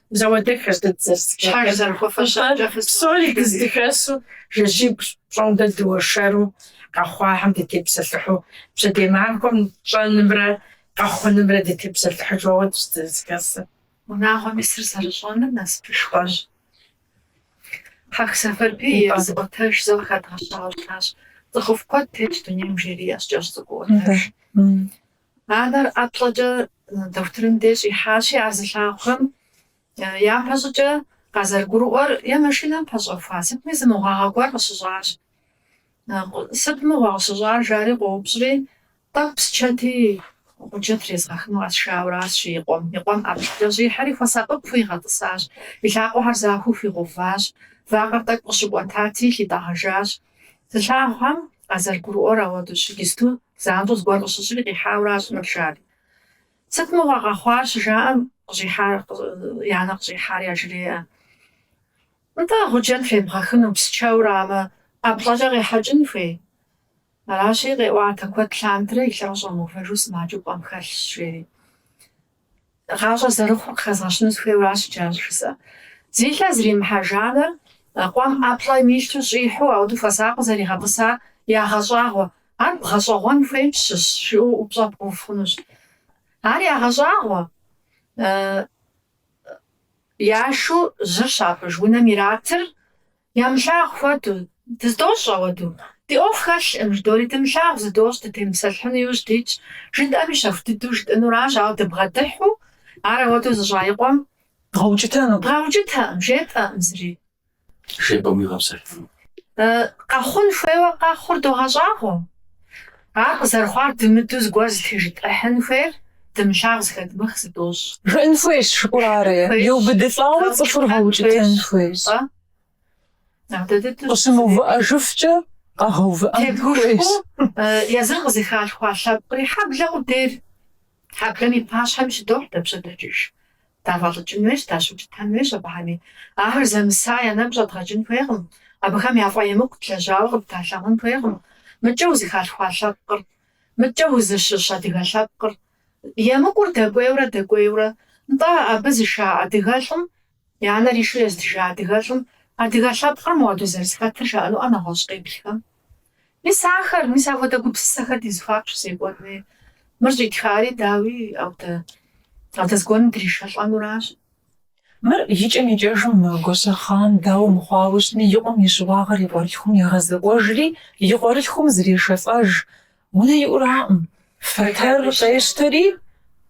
Зэуэдэххэ сыт зэсхэр зэрыхуэфэщар, псори дыздыхэсу жэщыбг пщӏондэ дыуэршэру къэхъуахэм дытепсэлъыхьу, пщэдей махуэм тщӏэнымрэ къэхъунымрэ дытепсэлъыхьыжу ауэдущ дызэрызэхэсыр. Унагъуэм исыр зэрыщӏэныр насыпышхуэщ. Хьэх Сэфэрбий и зы ӏуэтэж зэ къыхэдгъэщауэ щытащ, Цӏыхуфӏ куэд тетщ дунейм жери ящ кӏэщӏ цӏыкӏу ӏуэтэж. Анэр ӏэплӏэкӏэ дохутырым деж щӏихьащи, ар зылъагъухэм япэщӏыкӏэ къазэрыгурыӏуэр е машинэм пэщӏэхуа сытми зы мыгъуагъэ гуэр къыщыщӏащ. Сыт мыгъуэ къыщыщӏар, жари къоупщӏри, Тӏэкӏу псчэти гъуджэ трезгъэхыну къэсшауэращ, жи и къуэм. И къуэм ӏэплӏэкӏэ щӏихьэри хуэсакъыпэу игъэтӏысащ. И лъакъуэхэр захуэу хуигъэуващ. Вакъэр тӏэкӏу къыщыкӏуэтати, лъитӏэгъэжащ. Зылъагъухэм къазэрыгурыӏуэр ауэдущ, иджысту занщӏэу зыгуэр къыщыщӏри къихьауэращ мыр жари. Сыт мыгъуэ къэхъуар щыжаӏэм къыщӏихьар, я анэр къыщӏихьар яжреӏэ. Нтӏэ, гъуджэ тебгъэхыну, псчэуэ арамэ, ӏэплӏэкӏэ къехьэкӏын хуей. Аращи, къеӏуатэ куэд лъандэрэ и лъэ щӏэмыувэжу сымаджэу пӏэм хэлъщ, жери. Гъащӏэ зэрыхъур къыхэзгъэщыну сыхуейуэ аращ иджы ар щӏыжысӏэ. Зи лъэ зримыхьэж анэр къуэм ӏэплӏэм илъу щӏихьу ауэду хуэсакъыу зэригъэтӏысар ягъэщӏагъуэ, ар бгъэщӏэгъуэн хуейм щыщ, жыпӏэу упщӏэ бгъэув хъунущ. Ар ягъэщӏагъуэ, яшу жьыр щапӏыж унэм иратыр Ямылъагъу хуэдэу, дэ зыдощӏ ауэду. Ди ӏуэху хэлъӏым, жыдори дымылъагъу зыдощӏ, дытемыпсэлъыхьыну иужь дитщ. Жытӏэми щэху дыдэу жытӏэнуращ, ауэ дыбгъэдыхьу, ар ауэдэу зыщӏа и къуэм. Дгъэукӏытэну? Дгъэукӏытэкъым, жетӏэкъым зыри. Жепӏэм уигъэпсэлъыну? Къэхъун хуейуэ къэхъур догъэщӏагъуэ. Ар къызэрыхъуар дымыдэу зыгуэр зытежытӏыхьын хуейр, дымылъагъу, зыхэдмых зыдощӏ. Жыӏын хуейщ, жыӏэу арэ, еубыдылӏауэ цӏыхур гъэукӏытэн хуейщ. Къыщымыувыӏэжыфкӏэ къэгъэувыӏэн хуейщ. Тегушхуэу езыр къызыхалъхуа лъэпкъри хьэблэ къудейр хьэблэм и пащхьэми щыдохь дэ пщэдэкӏыж. Дафӏэлӏыкӏын хуейщ, дащыукӏытэн хуейщ абыхэми. Ахэр зэмыса я нэгу щӏэдгъэкӏын хуейкъым, абыхэм яфӏэемыкӏу длэжьауэ къыддалъэгъун хуейкъым. Мыдкӏэ узыхалъхуа лъэпкъыр, мыдкӏэ узыщыщ адыгэ лъэпкъыр. Емыкӏур дэкӏуейурэ дэкӏуейурэ, нтӏэ, абы зыша адыгэлӏым, янэр ишу езытыжа адыгэлӏым, адыгэ лъэпкъыр моуэду зэрызыхэтыр жаӏэнуӏэ нэгъуэщӏ къеплъхэм? Мис ахэр, мис ахуэдэ гупсысэхэр ди зыхуаку щызекӏуэн хуей. Мыр щӏитхари, дауи, ауэдэ, ауэдэ зыгуэрым дришэлӏэнуращ. Мыр икӏэм-икӏэжым Гуащэхъан, дауэ мыхъуауэ щытми, и къуэм и щыуагъэр и къуэрылъхум егъэзэкӏуэжри, и къуэрылъхум зрешэлӏэж. Унэ иӏураӏым, фэтэр къещтэри,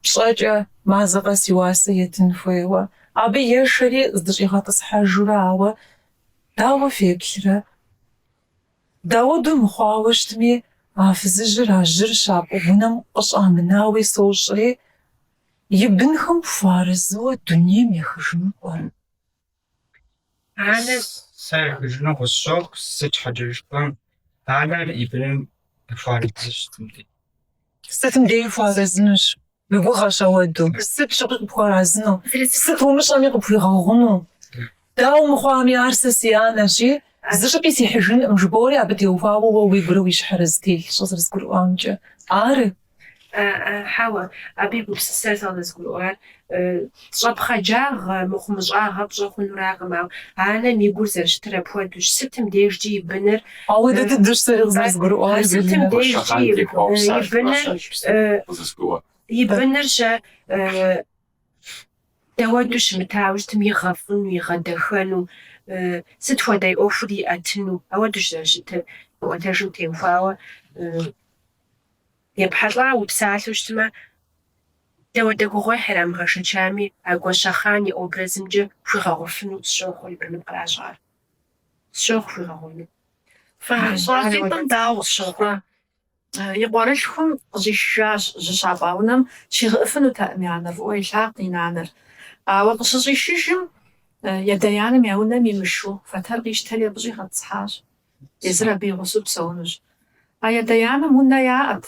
пщӏэкӏэ, мазэ къэс и уасэ етын хуейуэ. Абы ешэри здыщӏигъэтӏысхьэжурэ, ауэ дауэ феплърэ? Дауду мыхъуауэ щытми, а фызыжьыр а жьыр щапӏ унэм къыщӏамынауи сощӏри, и бынхэм хуэарэзыуэ дунейм ехыжыну пӏэрэ? Анэ, сэ ехыжыну къысщохъу, сыт щхьэкӏэ жыпӏэм, анэр и быным къыхуэарэзыщ сытым дей. Сытым деи хуэарэзынущ. Уи гугъэщ ауэду. Сыт щыгъуи къыпхуэарэзыну. Сыт умыщӏэми къыпхуигъэгъуну. Дауэ мыхъуами, ар сэ си анэщи, зы щӏыпӏи сихьыжынкъым, жыбори абы теухуауэ уэ уигурэ уи щхьэрэ зытелъщ зэрызгурыӏуамкӏэ. Ары. Хьэуэ, абы и гупсысэр зэрызгурыӏуар Щӏэпхъаджагъэ, мыхъумыщӏагъэ пщӏэ хъунуракъым, ауэ анэм и гур зэрыщытыр апхуэдэущ, сытым дежкӏи и быныр, сытым дежкӏи и быныр, и быныр щэ дауэду щымытауэ щытым, игъэфӏыну, игъэдэхэну, сыт хуэдэ и ӏуэхур иӏэтыну, ауэдущ зэрыщытыр, ӏуэтэжым теухуауэ. Епхьэлӏа упсалъэу щытмэ, дауэдэ гугъуехь ирамыгъэшэчами, а Гуащэхъан и образымкӏэ хуигъэгъуфыну сщохъур и быным къращӏар. Сщохъу хуигъэгъуэну. Щӏалитӏым дауэ щыхъуа? И къуэрылъхум къыщӏишыжащ жьы щапӏа унэм, щигъэӏэфынутэкъым я нэр, фӏыуэ илъагъут и нанэр. Ауэ къыщыщӏишыжым, ядэ-янэм я унэм имышу фэтэр къищтэри абы щӏигъэтӏысхьащ. Езыр абы и гъусэу псэунущ. А ядэ-янэм унэ яӏэт.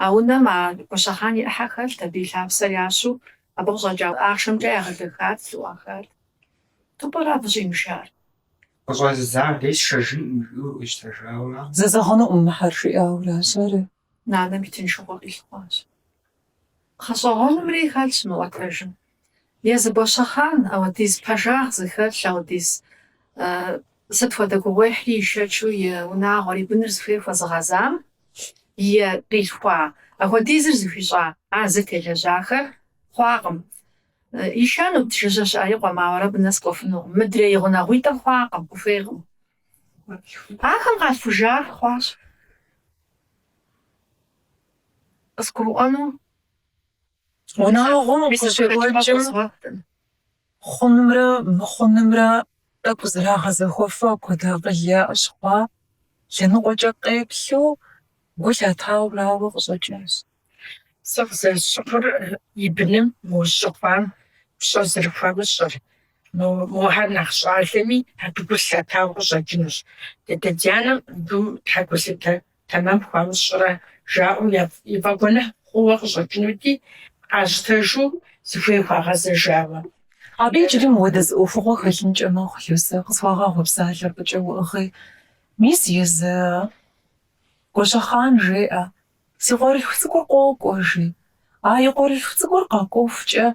А унэм а Гуащэхъан и ӏыхьэ хэлът, абы и лъапсэр ящу, абы къыщӏэкӏа ахъшэмкӏэ ягъэдэхат, лъыӏуахат. Сыту пӏэрэ абы щӏимышар? Къыщӏэзыдзам дей сшэжынкъым, жиӏэу ищтэжауэ макъ. Зэзэгъынукъым мыхьэр, жиӏауэращ. Ары, Нанэм и тыншыгъуэ къилъыхъуащ. Гъэщӏэгъуэну мыри хэлъщ мы ӏуэтэжым. Езы Гуащэхъан, ауэдиз пэжагъ зыхэлъ, ауэдиз сыт хуэдэ гугъуехьри ишэчу и унагъуэр, и быныр зыхуей хуэзыгъэзам и къилъхуа, ахуэдизыр зыхуищӏа а зытелэжьахэр хъуакъым. Ишэнут, жыжьэ щыӏэ и къуэм, ауэ абы нэс кӏуэфынукъым. Мыдрей гъунэгъуитӏыр хъуакъым, къыхуейкъым. Ахэм къалъхужар хъуащ къызгурыӏуэну унагъуэм къыщекӏуэкӏым хъунымрэ мыхъунымрэ тӏэкӏу зэрагъэзэхуэфу апхуэдэ акъыл яӏэщ хъуа, лъэныкъуэкӏэ къеплъу гу лъатауэ арауэ къыщӏэкӏащ. Сэ къызэрысщыхъур и быным мы жьы хъуам пщӏэ зэрыхуамыщӏыр. Мохьэр нэхъ щӏалэми, абы гу лъатауэ къыщӏэкӏынущ. Дядэ-дянэм абы щхьэ гулъытэ тэмэм хуамыщӏрэ жаӏэу и фӏэгуэныхь хъууэ къыщӏэкӏынути, къащтэжу зыхуей хуагъэзэжауэ. Абы иджыри мыуэдэ зы ӏуэхугъуэ хэлъынкӏэ мэхъу, Люсэ, къысхуэгъэгъу, псалъэр фӏыкӏэ уӏыгъи. Мис езы, Гуащэхъан жеӏэ. Си къуэрылъху цӏыкӏур къокӏуэ, жи. А и къуэрылъху цӏыкӏур къэкӏуэхукӏэ,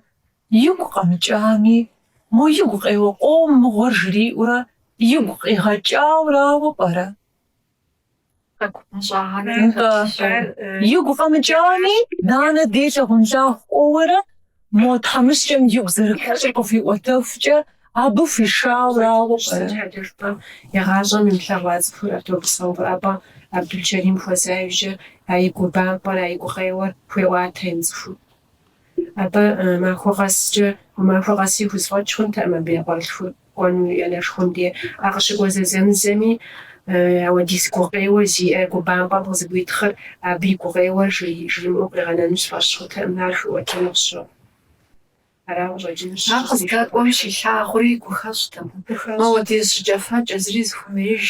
игу къэмыкӏами, мо и гукъеуэ къом мыгъуэр жриӏэурэ игу къигъэкӏауэ арауэ пӏэрэ? Нтӏэ, игу къэмыкӏами, нанэ дей лъагъунлъагъу кӏуэуэрэ? Мо тхьэмыщкӏэм игу зэрыхэщӏыр къыхуиӏуэтэхукӏэ, абы хуишауэ арауэ пӏэрэ? Игъащӏэм имылъэгъуа цӏыхур автобусым къыӏэпӏа Абдулчэрим хуэза иужьрэ а и губампӏэр, а и гукъеуэр хуеӏуатэ имыцӏыхуу. Абы махуэ къэскӏэ, махуэ къэси хузэфӏэкӏ хъунтэкъым абы и къуэрылъхур. Кӏуэну и анэшхуэм дей. А къыщыкӏуэ зэзэмызэми, ауэдиз гукъеуэ зиӏэ гу бампӏэм къызэгуитхъыр абы и гукъеуэр жримыӏэу къригъэнэну сфӏэщ хъутэкъым, ар хуиӏуэтэну къысщохъу. Ара къыщӏэкӏынущ? Ар къыздэкӏуэм щилъагъури гухэщӏтэм. Мауэдиз жьыкӏэфэкӏэ зыри зыхуэмеиж.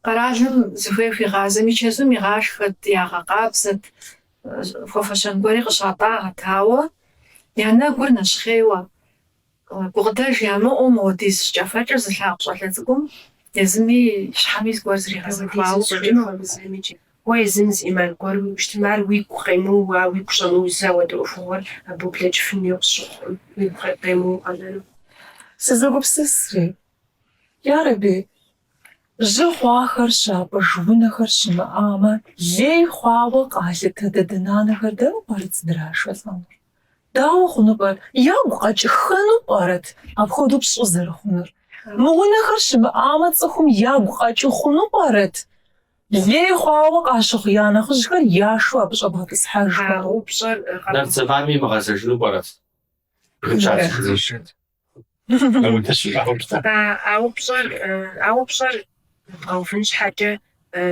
Къэралым зыхуей хуигъазэми, чэзум игъашхэт, ягъэкъабзэт, хуэфэщэн гуэри къыщатӏагъэт, ауэ я нэгур нэщхъейуэ. Гукъыдэж ямыӏэу модиз жьыкӏэфэкӏэр зылъагъу щӏалэ цӏыкӏум езым и щхьэми зыгуэр зригъэзэхуауэ щӏэкӏынукъым. Уэ езым зы ӏиман гуэр уиӏэу щытмэ, ар уигу къемыуэу, уигу щӏэмыузу ауэдэ ӏуэхугъуэр абы ублэкӏыфыну къысщыхъукъым, уигу къемыуэу къэнэну. Сызэгупсысыр, ярэби, жьы хъуахэр щапӏыж унэхэр щымыӏамэ, лей хъуауэ къалъытэ дадэ-нанэхэр дэнэ пӏэрэ зыдрашэлӏэнур? Дауэ хъуну пӏэрэ? Ягу къэкӏыххэну пӏэрэт апхуэдэу пщӏы зэрыхъунур? Мы унэхэр щымыӏамэ, цӏыхум ягу къэкӏыу хъуну пӏэрэт? Лей хъуауэ къащыхъу я нэхъыжьхэр яшэу абы щӏэбгъэтӏысхьэжхэрэ? Нарт зэманым имыгъэзэжыну пӏэрэт? Жыджащ. А упщӏэр, а упщӏэр бгъэувын щхьэкӏэ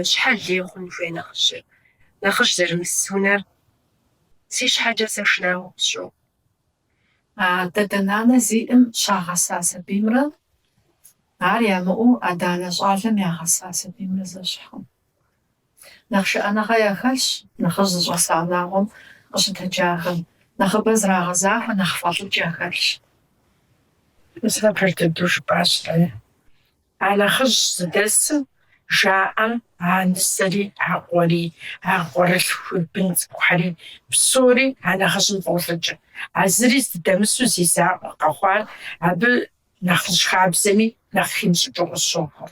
щхьэ лей хъун хуей нэхъыжьыр? Нэхъыжь зэрымыс унэр си щхьэкӏэ сэ шынагъуэ къысщохъу. А дадэ-нанэ зиӏым щагъэса сабиймрэ ар ямыӏэу адэ-анэ щӏалэм ягъэса сабиймрэ зэщхькъым. Нэхъ шыӏэныгъэ яхэлъщ нэхъыжь зыщӏэса унагъуэм къыщытэджахэм, нэхъыбэ зрагъэзахуэ нэхъ фӏэлӏыкӏ яхэлъщ. Пэж дыдэу жыпӏащ Лае. А нэхъыжь зыдэсым жаӏэм а нысэри, а къуэри, а къуэрылъхуи, бын цӏыкӏухэри, псори а нэхъыжьым фӏолӏыкӏ. А зыри здыдэмысу зи закъуэ къэхъуар абы нэхъыжь хабзэми нэхъ химыщӏыкӏыу къысщохъур.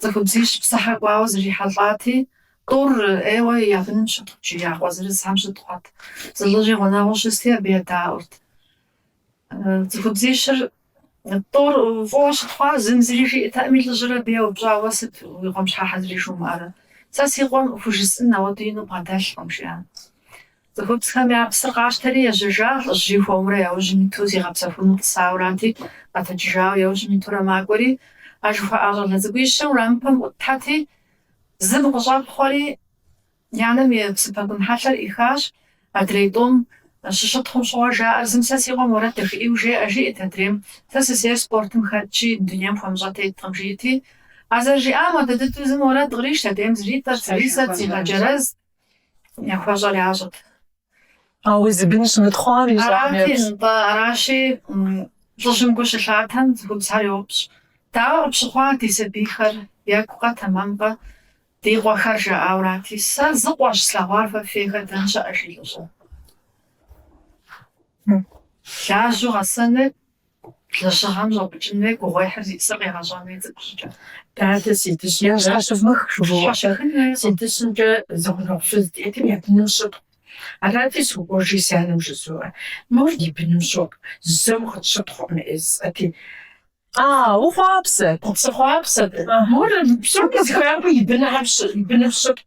Цӏыхубзищ псыхьэ кӏуауэ зэрихьэлӏати, тӏур ӏейуэ я быным щытхъут, жи, я къуэ зырызхэм щытхъуат. Зы лӏыжьи гъунэгъуу щысти, абы едаӏуэрт. Цӏыхубзищыр тӏур фӏыуэ щытхъуауэ зым зыри жиӏэтэкъыми, лӏыжьыр абы еупщӏауэ, Уэ сыт уи къуэм щхьэхьэ зыри жумыӏэрэ? Сэ си къуэм хужысӏын ауэдэу ину бгъэдэлъкъым, жиӏат. Цӏыхубзхэм я псыр къащтэри ежьэжа, лӏыжьри хуэмурэ яужьым иту зигъэпсэхуну тӏысаурати, къэтэджыжауэ яужьым итурэ макӏуэри, а жыхуаӏа щӏалэ цӏыкӏуищыр уэрамыпэм ӏутхэти, зым къыщӏэпхъуэри, и анэм и псыпэгун хьэлъэр ӏихащ, адрей тӏум щыщытхъум щыгъуэ жаӏэр зым сэ си къуэм уэрэд дахэ ӏейуэ жеӏэ, жиӏэт адрейм, сэ сысейр спортым хэтщи, дунейм хуэмыщӏэ теткъым, жиӏэти, а зэрыжиӏам хуэдэ дыдэу зым уэрэд кърищт, адрейм зритӏэрт, зрисэрт, зигъэджэрэзт. Яхуэщӏэр ящӏырт. Ауэ зи бын щымытхъуам и щӏагъым Арати, епщӏ. нтӏэ, аращи, лӏыжьым гу щылъатэм, цӏыхубзхэр йопщӏ, Дауэ къыпщыхъуа ди сабийхэр, екӏукъэ, тэмэмкъэ, ди къуэхэр? жаӏэурати, Сэ зы къуэщ слъэгъуар фэ фейхэр дэн щыӏэ? жи лӏыжьым. Лажьэу гъэсэныр, Лэжьыгъэм щӏэпӏыкӏын хуей, гугъуехьыр зищӏысыр къегъэщӏэн хуей цӏыкӏу щӏыкӏэ. Дадэ си дыщымкӏэ. Езыр къыщывмых жыбоӏэ. Щыхын хуейкъым. Си дыщымкӏэ зы гъунэгъу фыз диӏэт, я быным щытхъуу. Арати, сокӏуэжи си анэм жызоӏэ, Мор и быным щотхъу, зэ укъытщытхъукъым жысӏэти. А, ухъуапсэт. Сыхъуапсэт. Мор псоми зыхуеяку и быным щытхъут.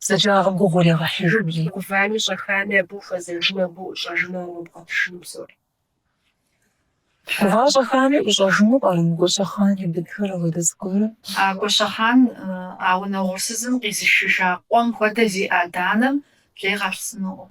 Бзаджагъэм гугъу иригъэхьыжми, гувами щӏэхами абы ухуэзэжмэ, абы уӏущӏэжмэ арумыбгъэтшыну псори. Гува-щӏэхами ӏущӏэжыну пӏэрэ мы Гуащэхъан и бынхэр ауэдэ зыгуэрым? А Гуащэхъан а унэ угъурсызым къизышыжа къуэм хуэдэ зиӏэ адэ-анэм лей къалъсынукъым.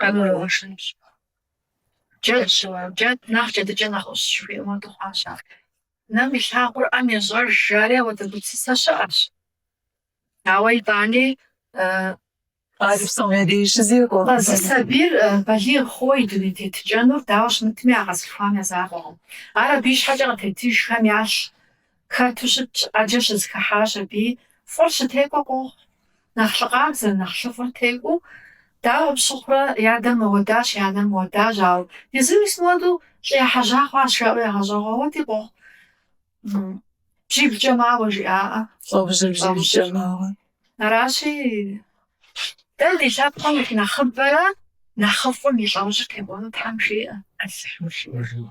Къагурыӏуэжынщ. Джэдщ уэ, джэд нэхъ джэдыкӏэ нэхъ ӏущ, жыхуиӏэм хуэдэу хъуащ ар. Нэм илъагъур ӏэм ещӏэж, жари ауэдэ гупсысэ щыӏэщ. Ауэ итӏани, Ар псалъэри щызекӏуэ. Зы сабийр балигъ хъууэ и дуней тетыкӏэнур дауэ щымытми а къэзылъхуам я закъуэкъым. Ар абы и щхьэкӏэ къытетыжхэм ялъ, Хэту щытщ, ӏэджэ щызэхыхьащ абы, фӏыр щытекӏуэ къохъу. Нэхъ лъы къабзэр, нэхъ лъыфӏыр текӏуэу, дауэ пщыхъурэ, и адэм мыуэдащ, и анэм мыуэдащ, ауэ езыр мис мыуэду лӏы ехьэжьа хъуащ, жаӏэу ягъэщӏагъуэ уэдэи къохъу. Бжьиблкӏэ мауэ жиӏаӏэ. Лӏэужьыр бжьиблкӏэ мауэ. Аращи, дэ ди лъэпкъым нэхъыбэрэ нэхъыфӏым и лӏэужьыр текӏуэну Тхьэм жиӏэ. Алыхьым жиӏэ.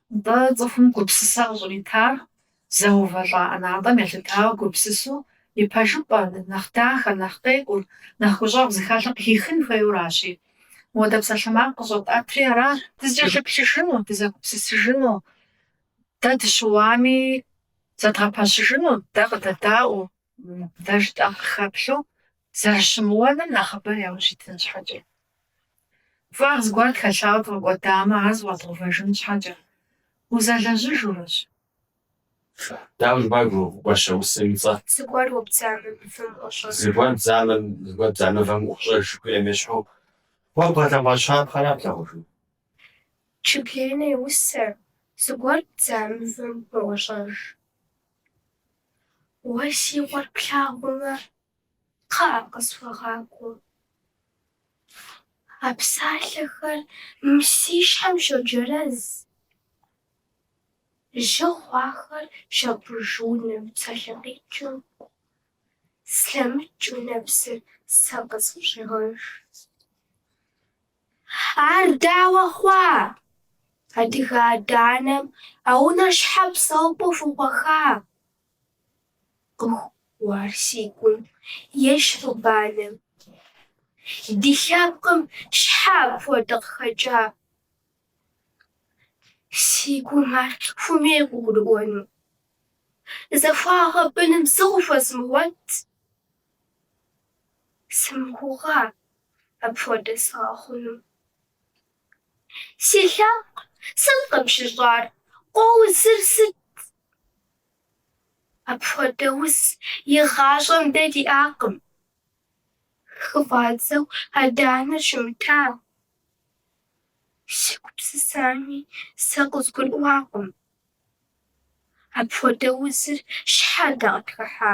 Нтӏэ, цӏыхум гупсысэ къыщӏритар зэувэлӏа ӏэнатӏэм елъытауэ гупсысу и пэжыпӏэ, нэхъ дахэр, нэхъ къекӏур, нэхъ гущӏэгъу зыхэлъыр къыхихын хуейуэ аращи. Моуэдэ псалъэмакъ къыщӏэтӏэтри аращ. Дызыкӏэлъыплъыжыну, дызэгупсысыжыну, дэ дыщыуами зэдгъэпэщыжыну, дэ къыдэдаӏуэу, Дэ жытӏэм къыхэплъу зэрыщымыуэным нэхъыбэ яужь итын щхьэкӏэ. Фӏагъ зыгуэр тхэлъауэ дгъэкӏуэдамэ, ар зэфӏэдгъэувэжын щхьэкӏэ, узэлэжьыжуращ. Дауэ жыпӏар гуащэ усэм и цӏэр? Зыгуэр уэ бдзамэ мывэм ӏуэщӏэжу. Зыгуэр бдзамэм, зыгуэр бдза мывэм ӏуэщӏэж жыхуиӏэм ещхьу, уэ бгъэлъэгъуа щапхъэра плъагъужу? Чыблейнэ и усэр, зыгуэр бдза мывэм уӏуощӏэж. Уэ си къуэр плъагъумэ, кхъыӏэ, къысхуэгъакӏуэ. А псалъэхэр мы си щхьэм щоджэрэз, жьы хъуахэр щапӏыж унэм псалъэ къикӏыу, слъэмыкӏыу нэпсыр сэ къысфӏыщӏегъэж. Ар дауэ хъуа? Адыгэ адэ-анэм а унэр щхьэ псэупӏэу хухаха? Къыхоуэ ар си гум ещхьу банэм. Ди лъэпкъым щхьэ апхуэдэ къыхэкӏа? Си гум ар хуэмей къыгурыӏуэну. Захуагъэ быным сэ къыхуэзмыгъуэт? Сымыгугъа апхуэдэ сэ къэхъуну. Си лъэпкъ, сыт къыпщыщӏар, къоузыр сыт? Апхуэдэ уз игъащӏэм дэ диӏакъым. Хыфӏадзэу адэ-анэр щымыта, сыгупсысами сэ къызгурыӏуакъым. Апхуэдэ узыр щхьэ дэ къытхыхьа?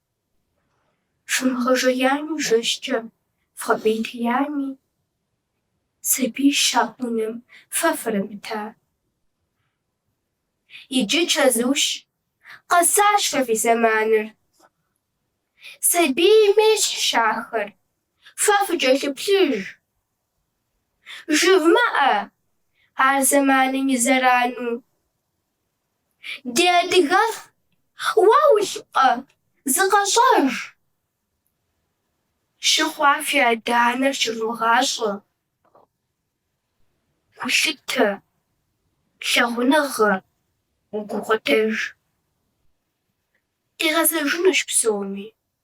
Фымыгъэжеями жэщкӏэ вгъэпӏейтеями, сабий щапӏ унэм фэ фырамыта? Иджы чэзущ, къэсащ фэ фи зэманыр. Сабийм ещхьщ ахэр, фэ фыкӏэлъыплъыж. Жывмыӏэ ар зэманым и зэрану Ди адыгэлӏ, уэ улӏкъэ, зыкъэщӏэж. Жьы хъуа фи адэ-анэр щывмыгъащӏэ. Гулъытэ, лъагъуныгъэ, гукъыдэж. Къигъэзэжынущ псоми.